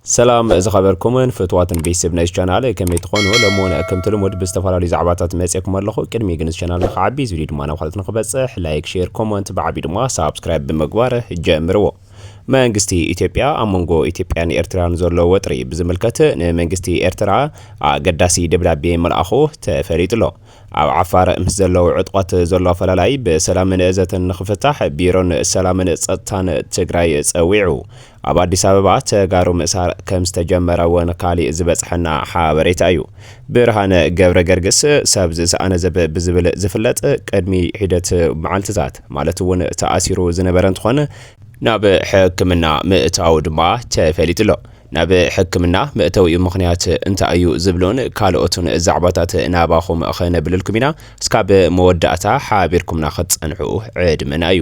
ሰላም ዝኸበርኩምን ፍትዋትን ቤተሰብ ናይዚ ቻናል ከመይ ትኾኑ? ሎሚ እውን ከምቲ ልሙድ ብዝተፈላለዩ ዛዕባታት መፅየኩም ኣለኹ። ቅድሚ ግን እዚ ቻናል ንክዓቢ እዚ ቪድዮ ድማ ናብ ካልኦት ንክበፅሕ ላይክ፣ ሼር፣ ኮመንት ብዓብዩ ድማ ሳብስክራይብ ብምግባር ጀምርዎ። መንግስቲ ኢትዮጵያ ኣብ መንጎ ኢትዮጵያን ኤርትራን ዘሎ ወጥሪ ብዝምልከት ንመንግስቲ ኤርትራ ኣገዳሲ ደብዳቤ ምልኣኹ ተፈሊጡ'ሎ። ኣብ ዓፋር ምስ ዘለዉ ዕጡቓት ዘሎ ኣፈላላይ ብሰላምን ዘተን ንክፍታሕ ቢሮን ሰላምን ፀጥታን ትግራይ ፀዊዑ። ኣብ ኣዲስ ኣበባ ተጋሩ ምእሳር ከም ዝተጀመረ ውን ካሊእ ዝበፅሐና ሓበሬታ እዩ። ብርሃነ ገብረገርግስ፣ ሰብ ዝሰኣነ ዘብ ብዝብል ዝፍለጥ፣ ቅድሚ ሒደት መዓልቲታት ማለት ውን ተኣሲሩ ዝነበረ እንትኾን፣ ናብ ሕክምና ምእታዉ ድማ ተፈሊጡ ኣሎ። ናብ ሕክምና መእተዊኡ ምኽንያት እንታይ እዩ ዝብሉን ካልኦትን ዛዕባታት ናባኹም ክነብልልኩም ኢና። እስካብ መወዳእታ ሓቢርኩምና ክትፀንሑ ዕድመና እዩ።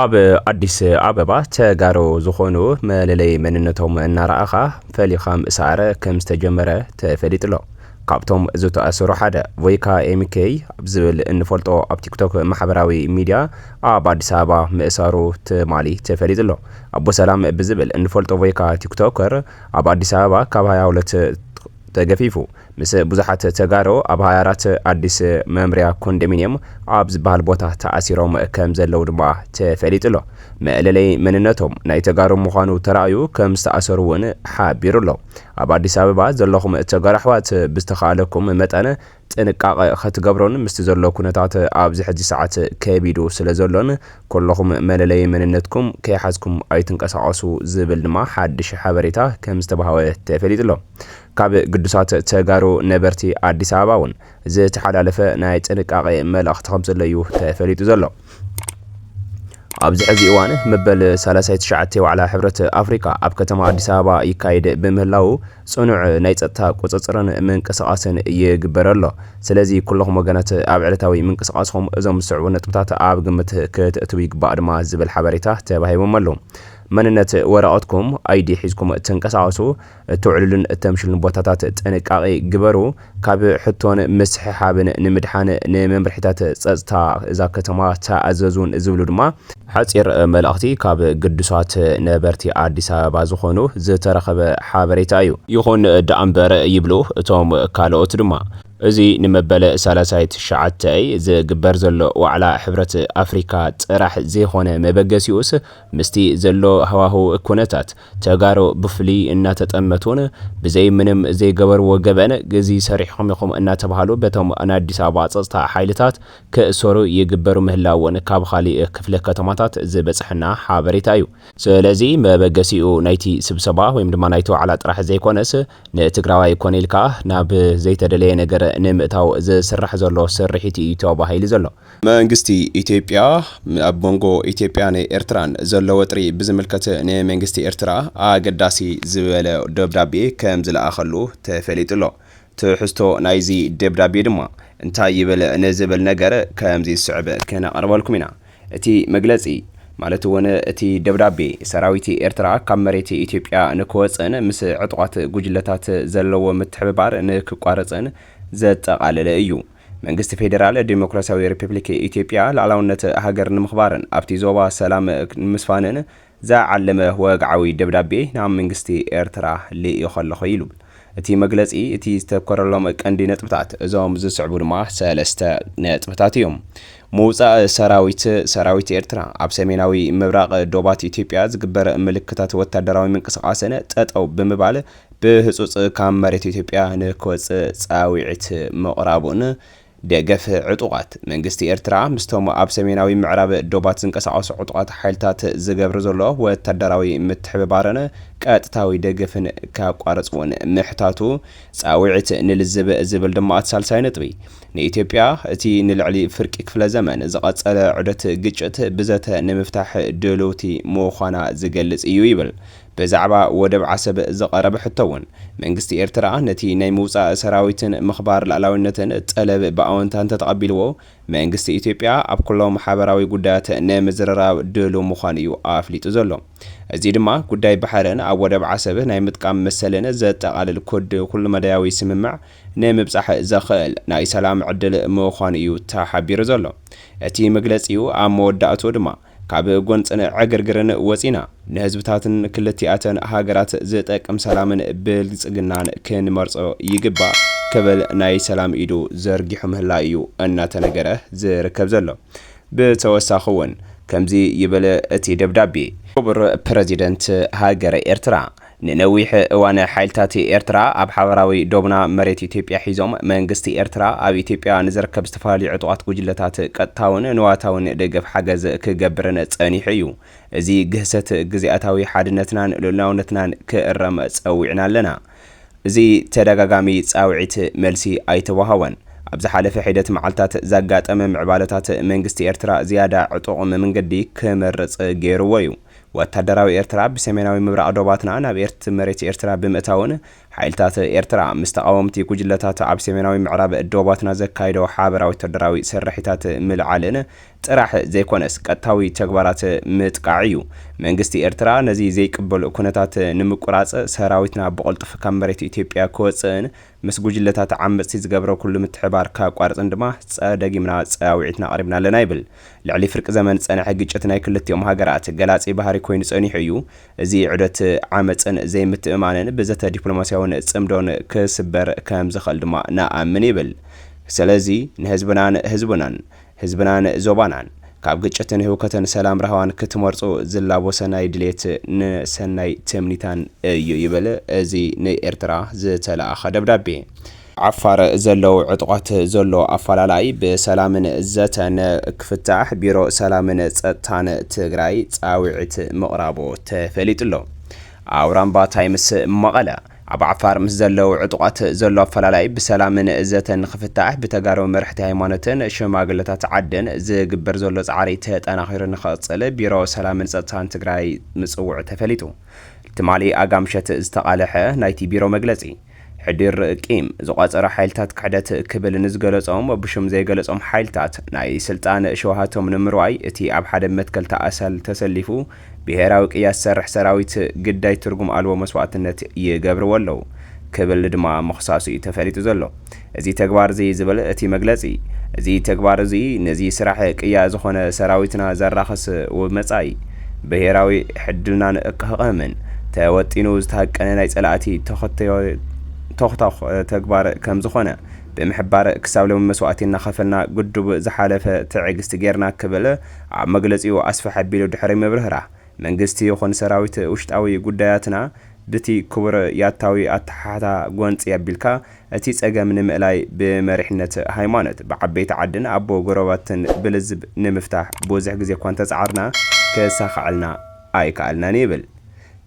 ኣብ ኣዲስ ኣበባ ተጋሩ ዝኾኑ መለለይ መንነቶም እናረኣኻ ፈሊኻ ምእሳር ከም ዝተጀመረ ተፈሊጡ ኣሎ። ካብቶም ዝተኣሰሩ ሓደ ቮይካ ኤምኬይ ኣብ ዝብል እንፈልጦ ኣብ ቲክቶክ ማሕበራዊ ሚዲያ ኣብ ኣዲስ ኣበባ ምእሳሩ ትማሊ ተፈሊጡ ኣሎ። ኣቦ ሰላም ብዝብል እንፈልጦ ቮይካ ቲክቶከር ኣብ ኣዲስ ኣበባ ካብ 22 ተገፊፉ ምስ ብዙሓት ተጋሩ ኣብ ሃያ ኣራት ኣዲስ መምርያ ኮንደሚንየም ኣብ ዝበሃል ቦታ ተኣሲሮም ከም ዘለዉ ድማ ተፈሊጡ ኣሎ። መእለለይ መንነቶም ናይ ተጋሩ ምዃኑ ተራእዩ ከም ዝተኣሰሩ እውን ሓቢሩ ኣሎ። ኣብ ኣዲስ ኣበባ ዘለኹም ተጋሩ ኣሕዋት ብዝተኻእለኩም መጠን ጥንቃቐ ከትገብሮን ምስቲ ዘሎ ኩነታት ኣብዚ ሕጂ ሰዓት ከቢዱ ስለ ዘሎን ኩሎኹም መለለዪ መንነትኩም ከይሓዝኩም ኣይትንቀሳቐሱ ዝብል ድማ ሓድሽ ሓበሬታ ከም ዝተባህወ ተፈሊጡ'ሎ። ካብ ግዱሳት ተጋሩ ነበርቲ ኣዲስ ኣበባ እውን ዝተሓላለፈ ናይ ጥንቃቐ መልእኽቲ ከም ዘሎ'ዩ ተፈሊጡ ዘሎ። ኣብዚ ሕዚ እዋን መበል ሳላሳይ ትሽዓተ ዋዕላ ሕብረት ኣፍሪካ ኣብ ከተማ ኣዲስ ኣበባ ይካየድ ብምህላዉ ፅኑዕ ናይ ፀጥታ ቁፅፅርን ምንቅስቓስን ይግበር ኣሎ። ስለዚ ኩለኹም ወገናት ኣብ ዕለታዊ ምንቅስቓስኹም እዞም ዝስዕቡ ነጥብታት ኣብ ግምት ክተእትው ይግባእ ድማ ዝብል ሓበሬታ ተባሂቦም ኣሎ። መንነት ወረቐትኩም፣ ID፣ ሒዝኩም ትንቀሳቐሱ። እተውዕሉሉን እተምሽሉን ቦታታት ጥንቃቐ ግበሩ። ካብ ሕቶን ምስሕሓብን ንምድሓን ንመምርሒታት ጸጥታ እዛ ከተማ ተኣዘዙን ዝብሉ ድማ ሓጺር መልእኽቲ ካብ ግዱሳት ነበርቲ ኣዲስ ኣበባ ዝኾኑ ዝተረኸበ ሓበሬታ እዩ። ይኹን ደኣምበር ይብሉ እቶም ካልኦት ድማ፣ እዚ ንመበል ሰላሳይ ትሽዓተይ ዝግበር ዘሎ ዋዕላ ሕብረት ኣፍሪካ ጥራሕ ዘይኾነ መበገሲኡስ ምስቲ ዘሎ ሃዋህው ኩነታት ተጋሩ ብፍሉይ እናተጠመቱን ብዘይ ምንም ዘይገበርዎ ገበን ግዚ ሰሪሕኹም ኢኹም እናተብሃሉ በቶም ናይ ኣዲስ ኣበባ ፀፅታ ሓይልታት ክእሰሩ ይግበሩ ምህላውን ካብ ኻሊእ ክፍለ ከተማታት ዝበፀሐና ሓበሬታ እዩ። ስለዚ መበገሲኡ ናይቲ ስብሰባ ወይም ድማ ናይቲ ዋዕላ ጥራሕ ዘይኮነስ ንትግራዋይ ኮነ ኢልካ ናብ ዘይተደለየ ነገር ንምእታው ዝስራሕ ዘሎ ስርሒት እዩ ተባሂሉ ዘሎ። መንግስቲ ኢትዮጵያ ኣብ መንጎ ኢትዮጵያን ኤርትራን ዘሎ ወጥሪ ብዝምልከት ንመንግስቲ ኤርትራ ኣገዳሲ ዝበለ ደብዳቤ ከም ዝለኣኸሉ ተፈሊጡ'ሎ። ትሕዝቶ ናይዚ ደብዳቤ ድማ እንታይ ይብል ንዝብል ነገር ከምዚ ዝስዕብ ክነቕርበልኩም ኢና። እቲ መግለጺ ማለት'ውን እቲ ደብዳቤ ሰራዊት ኤርትራ ካብ መሬት ኢትዮጵያ ንክወጽእን ምስ ዕጡቓት ጉጅለታት ዘለዎ ምትሕብባር ንክቋርጽን ዘጠቓለለ እዩ። መንግስቲ ፌዴራል ዴሞክራሲያዊ ሪፐብሊክ ኢትዮጵያ ልኣላውነት ሃገር ንምኽባርን ኣብቲ ዞባ ሰላም ንምስፋንን ዝዓለመ ወግዓዊ ደብዳቤ ናብ መንግስቲ ኤርትራ ልኢኾ ኣለኹ ኢሉ እቲ መግለፂ እቲ ዝተኮረሎም ቀንዲ ነጥብታት እዞም ዝስዕቡ ድማ ሰለስተ ነጥብታት እዮም ምውፃእ ሰራዊት ሰራዊት ኤርትራ ኣብ ሰሜናዊ ምብራቕ ዶባት ኢትዮጵያ ዝግበር ምልክታት ወታደራዊ ምንቅስቓስን ጠጠው ብምባል ብህፁፅ ካብ መሬት ኢትዮጵያ ንክወፅእ ፃዊዕት ምቕራቡን ደገፍ ዕጡቓት መንግስቲ ኤርትራ ምስቶም ኣብ ሰሜናዊ ምዕራብ ዶባት ዝንቀሳቐሱ ዕጡቓት ሓይልታት ዝገብር ዘሎ ወታደራዊ ምትሕብባርን ቀጥታዊ ደገፍን ከቋርፅ እውን ምሕታቱ ፃዊዕት ንልዝብ ዝብል ድማ እቲ ሳልሳይ ነጥቢ ንኢትዮጵያ እቲ ንልዕሊ ፍርቂ ክፍለ ዘመን ዝቐፀለ ዑደት ግጭት ብዘተ ንምፍታሕ ድልውቲ ምዃና ዝገልፅ እዩ ይብል ብዛዕባ ወደብ ዓሰብ ዝቐረበ ሕቶ'ውን፣ መንግስቲ ኤርትራ ነቲ ናይ ምውጻእ ሰራዊትን ምኽባር ልኣላዊነትን ጠለብ ብኣወንታ እንተተቐቢልዎ፣ መንግስቲ ኢትዮጵያ ኣብ ኩሎም ሓበራዊ ጉዳያት ንምዝርራብ ድሉው ምዃኑ'ዩ ኣፍሊጡ ዘሎ። እዚ ድማ ጉዳይ ባሕርን ኣብ ወደብ ዓሰብ ናይ ምጥቃም መሰልን ዘጠቓልል ኩድ ኩሉመዳያዊ ስምምዕ ንምብጻሕ ዘኽእል ናይ ሰላም ዕድል ምዃኑ'ዩ ተሓቢሩ ዘሎ። እቲ መግለጺኡ ኣብ መወዳእትኡ ድማ፣ ካብ ጎንጽን ዕግርግርን ወጺና ንህዝብታትን ክልቲኣተን ሃገራት ዝጠቅም ሰላምን ብልጽግናን ክንመርጾ ይግባእ ክብል ናይ ሰላም ኢዱ ዘርጊሑ ምህላዩ እዩ እናተነገረ ዝርከብ ዘሎ። ብተወሳኺ እውን ከምዚ ይብል እቲ ደብዳቤ። ክቡር ፕረዚደንት ሃገረ ኤርትራ፣ ንነዊሕ እዋን ሓይልታት ኤርትራ ኣብ ሓባራዊ ዶብና መሬት ኢትዮጵያ ሒዞም፣ መንግስቲ ኤርትራ ኣብ ኢትዮጵያ ንዝርከብ ዝተፈላለዩ ዕጡቓት ጉጅለታት ቀጥታውን ንዋታውን ደገፍ ሓገዝ ክገብርን ጸኒሑ እዩ። እዚ ግህሰት ግዝኣታዊ ሓድነትናን ልኡላውነትናን ክእረም ጸዊዕና ኣለና። እዚ ተደጋጋሚ ጻውዒት መልሲ ኣይተወሃቦን። ኣብ ዝሓለፈ ሒደት መዓልታት ዛጋጠመ ምዕባለታት መንግስቲ ኤርትራ ዝያዳ ዕጡቕ መምንገዲ ክመርጽ ገይሩዎ እዩ። ወታደራዊ ኤርትራ ብሰሜናዊ ምብራቕ ዶባትና ናብ ኤርት መሬት ኤርትራ ብምእታውን ሓይልታት ኤርትራ ምስ ተቓወምቲ ጉጅለታት ኣብ ሰሜናዊ ምዕራብ ዶባትና ዘካይዶ ሓበራዊ ወታደራዊ ስርሒታት ምልዓልን ጥራሕ ዘይኮነስ ቀጥታዊ ተግባራት ምጥቃዕ ኢዩ። መንግስቲ ኤርትራ ነዚ ዘይቅበሎ ኩነታት ንምቁራጽ ሰራዊትና ብቕልጡፍ ካብ መሬት ኢትዮጵያ ክወጽእን ምስ ጉጅለታት ዓመጽቲ ዝገብሮ ኩሉ ምትሕብባር ከቋርጽን ድማ ጸ ደጊምና ጸያዊዒትና ኣቕሪብና ኣለና ይብል። ልዕሊ ፍርቂ ዘመን ዝጸነሐ ግጭት ናይ ክልቲኦም ሃገራት ገላጺ ባህሪ ኮይኑ ጸኒሑ እዩ። እዚ ዑደት ዓመጽን ዘይምትእምማንን ብዘተ ዲፕሎማስያውን ጽምዶን ክስበር ከምዝኽእል ድማ ንኣምን ይብል። ስለዚ ንህዝብናን ህዝብናን ህዝብናን ዞባናን ካብ ግጭትን ህውከትን ሰላም ራህዋን ክትመርጹ ዝላቦሰ ናይ ድሌት ን ሰናይ ትምኒታን እዩ ይብል እዚ ን ኤርትራ ዝተላኣኸ ደብዳቤ። ዓፋር ዘለው ዕጡቓት ዘሎ ኣፋላላይ ብሰላምን ዘተን ክፍታሕ ቢሮ ሰላምን ፀጥታን ትግራይ ፃውዒት ምቕራቡ ተፈሊጡ'ሎ። ኣውራምባ ታይምስ መቐለ። ኣብ ዓፋር ምስ ዘለው ዕጡቓት ዘሎ ኣፈላላይ ብሰላምን ዘተን ንኽፍታሕ ብተጋሩ መረሕቲ ሃይማኖትን ሽማግለታት ዓድን ዝግበር ዘሎ ፃዕሪ ተጠናኺሩ ንኽቕፅል ቢሮ ሰላምን ፀጥታን ትግራይ ምፅውዑ ተፈሊጡ። ትማሊ ኣጋምሸት ዝተቓለሐ ናይቲ ቢሮ መግለፂ ሕድር ቂም ዝቋፀረ ሓይልታት ክሕደት ክብል ንዝገለፆም ብሹም ዘይገለፆም ሓይልታት ናይ ስልጣን ሸውሃቶም ንምርዋይ እቲ ኣብ ሓደ መትከል ተኣሰል ተሰሊፉ ብሄራዊ ቅያ ዝሰርሕ ሰራዊት ግዳይ ትርጉም ኣልቦ መስዋእትነት ይገብርዎ ኣለዉ ክብል ድማ ምኽሳሱ እዩ ተፈሊጡ ዘሎ። እዚ ተግባር'ዚ ዝብል እቲ መግለጺ፣ እዚ ተግባር'ዚ ነዚ ስራሕ ቅያ ዝኾነ ሰራዊትና ዘራኽስ ውብመጻኢ ብሄራዊ ሕድልናን እክህቕህምን ተወጢኑ ዝተሃቀነ ናይ ጸላእቲ ተኹቶኽ ተግባር ከምዝኾነ ብምሕባር ክሳብ ሎሚ መስዋእቲ እናኸፈልና ግዱብ ዝሓለፈ ትዕግስቲ ጌርና ክብል ኣብ መግለጺኡ ኣስፍሕ ኣቢሉ ድሕሪ ምብርህራህ፣ መንግስቲ ይኹን ሰራዊት ውሽጣዊ ጉዳያትና ብቲ ክቡር ያታዊ ኣተሓሕታ ጎንጺ ኣቢልካ እቲ ጸገም ንምእላይ ብመሪሕነት ሃይማኖት፣ ብዓበይቲ ዓድን ኣቦ ጎረባብትን ብልዝብ ንምፍታሕ ብዙሕ ግዜ'ኳ እንተጸዓርና ክሳኸዐልና ኣይከኣልናን ይብል።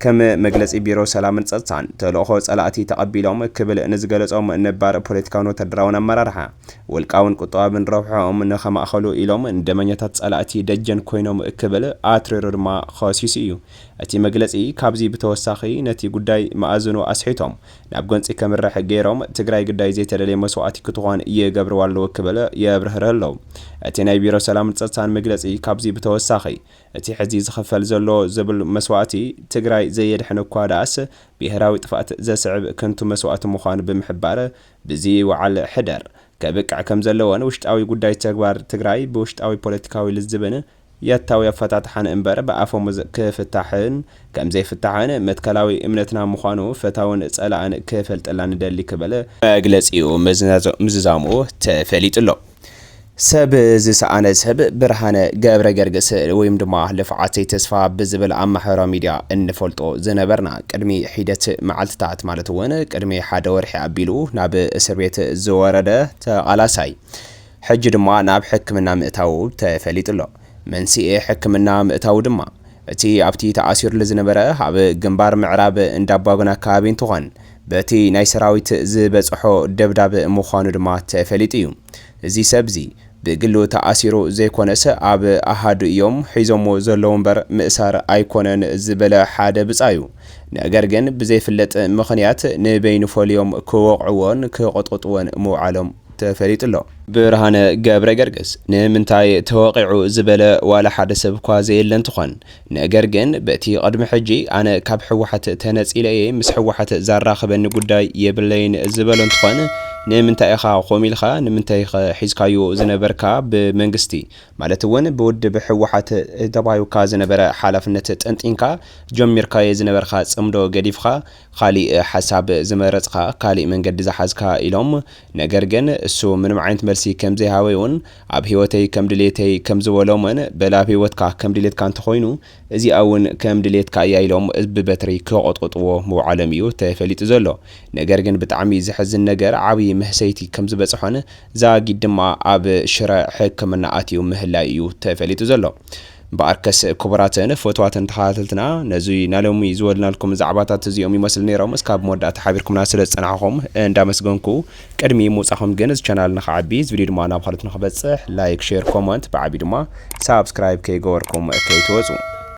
ከም መግለጺ ቢሮ ሰላምን ጸጥታን፣ ተልእኾ ጸላእቲ ተቐቢሎም ክብል ንዝገለጾም ነባር ፖለቲካውን ወተሃደራውን ኣመራርሓ፣ ውልቃውን ቁጠባብን ረብሕኦም ንኸማእኸሉ ኢሎም ንደመኛታት ጸላእቲ ደጀን ኮይኖም ክብል ኣትሪሩ ድማ ኸሲሱ እዩ። እቲ መግለጺ ካብዚ ብተወሳኺ ነቲ ጉዳይ መኣዝኑ ኣስሒቶም ናብ ጎንጺ ከምርሕ ገይሮም ትግራይ ግዳይ ዘይተደልየ መስዋእቲ ክትኾን ይገብርዋ ኣለዉ ክብል የብርህርህ ኣሎ እቲ ናይ ቢሮ ሰላምን ጸጥታን መግለጺ ካብዚ ብተወሳኺ እቲ ሕዚ ዝኽፈል ዘሎ ዝብል መስዋእቲ ትግራይ ዘየድሕን እኳ ደኣስ ብሄራዊ ጥፍኣት ዘስዕብ ከንቱ መስዋእቲ ምዃኑ ብምሕባር ብዚ ውዓል ሕደር ከብቅዕ ከምዘለዎን ውሽጣዊ ጉዳይ ተግባር ትግራይ ብውሽጣዊ ፖለቲካዊ ልዝብን ያታዊ ኣፈታትሓን እምበር ብኣፈሙዝ ክፍታሕን ከም ዘይፍታሕን መትከላዊ እምነትና ምዃኑ ፈታውን ጸላእን ክፈልጠላ ንደሊ ክብል መግለጺኡ ምዝዛሙ ተፈሊጡ ኣሎ። ሰብ ዝሰኣነ ሰብ ብርሃነ ገብረገርግስ ወይም ድማ ልፍዓተይ ተስፋ ብዝብል ኣብ ማሕበራዊ ሚድያ እንፈልጦ ዝነበርና ቅድሚ ሒደት መዓልትታት ማለት እውን ቅድሚ ሓደ ወርሒ ኣቢሉ ናብ እስር ቤት ዝወረደ ተቓላሳይ ሕጂ ድማ ናብ ሕክምና ምእታዉ ተፈሊጡ ኣሎ። መንስኤ ሕክምና ምእታዉ ድማ እቲ ኣብቲ ተኣሲሩሉ ዝነበረ ኣብ ግንባር ምዕራብ እንዳቧግና ኣከባቢ እንትኾን በቲ ናይ ሰራዊት ዝበፀሖ ደብዳብ ምዃኑ ድማ ተፈሊጡ እዩ። እዚ ሰብ እዚ ብግሉ ተኣሲሩ ዘይኮነስ ኣብ ኣሃዱ እዮም ሒዞምዎ ዘለዉ እምበር ምእሳር ኣይኮነን ዝበለ ሓደ ብፃዩ ነገር ግን ብዘይፍለጥ ምኽንያት ንበይኑ ፈልዮም ክወቕዕዎን ክቕጥቕጥዎን ምውዓሎም ተፈሊጡ'ሎ። ብርሃነ ገብረገርግስ ንምንታይ ተወቒዑ ዝበለ ዋላ ሓደ ሰብ'ኳ ዘየለ እንትኾን፣ ነገር ግን በቲ ቕድሚ ሕጂ ኣነ ካብ ህወሓት ተነጺለ እየ ምስ ህወሓት ዛራኽበኒ ጉዳይ የብለይን ዝበሎ እንትኾን ንምንታይ ኢኻ ኮምኡ ኢልካ ንምንታይ'ኸ ሒዝካዮ ዝነበርካ ብመንግስቲ ማለት'ውን ብውድብ ህወሓት ተባሂውካ ዝነበረ ሓላፍነት ጠንጢንካ ጀሚርካዮ ዝነበርካ ጽምዶ ገዲፍኻ ኻሊእ ሓሳብ ዝመረጽኻ ካሊእ መንገዲ ዝሓዝካ ኢሎም ነገር ግን እሱ ምንም ዓይነት መልሲ ከም ዘይሃበይውን ኣብ ሂወተይ ከም ድልየተይ ከም ዝበሎምን በል ኣብ ሂወትካ ከም ድልየትካ እንተኾይኑ እዚኣ ውን ከም ድልየትካ እያ ኢሎም ብበትሪ ክቖጥቑጥዎ ምውዓሎም እዩ ተፈሊጡ ዘሎ ነገር ግን ብጣዕሚ ዘሕዝን ነገር ዓብይ መህሰይቲ ከም ዝበጽሖን ዛጊድ ድማ ኣብ ሽረ ሕክምና ኣትዩ ምህላዩ እዩ ተፈሊጡ ዘሎ። እምበኣርከስ ክቡራትን ፍትዋትን ተኸታተልትና ነዚ ናሎሚ ዝወልናልኩም ዛዕባታት እዚኦም ይመስሉ ነይሮም እስካብ መወዳእታ ሓቢርኩምና ስለ ዝጸናሕኹም እንዳመስገንኩ ቅድሚ ምውጻኹም ግን እዚ ቻናል ንኽዓቢ እዚ ቪድዮ ድማ ናብ ኻልኦት ንኽበጽሕ ላይክ ሼር ኮመንት ብዓቢ ድማ ሳብስክራይብ ከይገበርኩም ከይትወጹ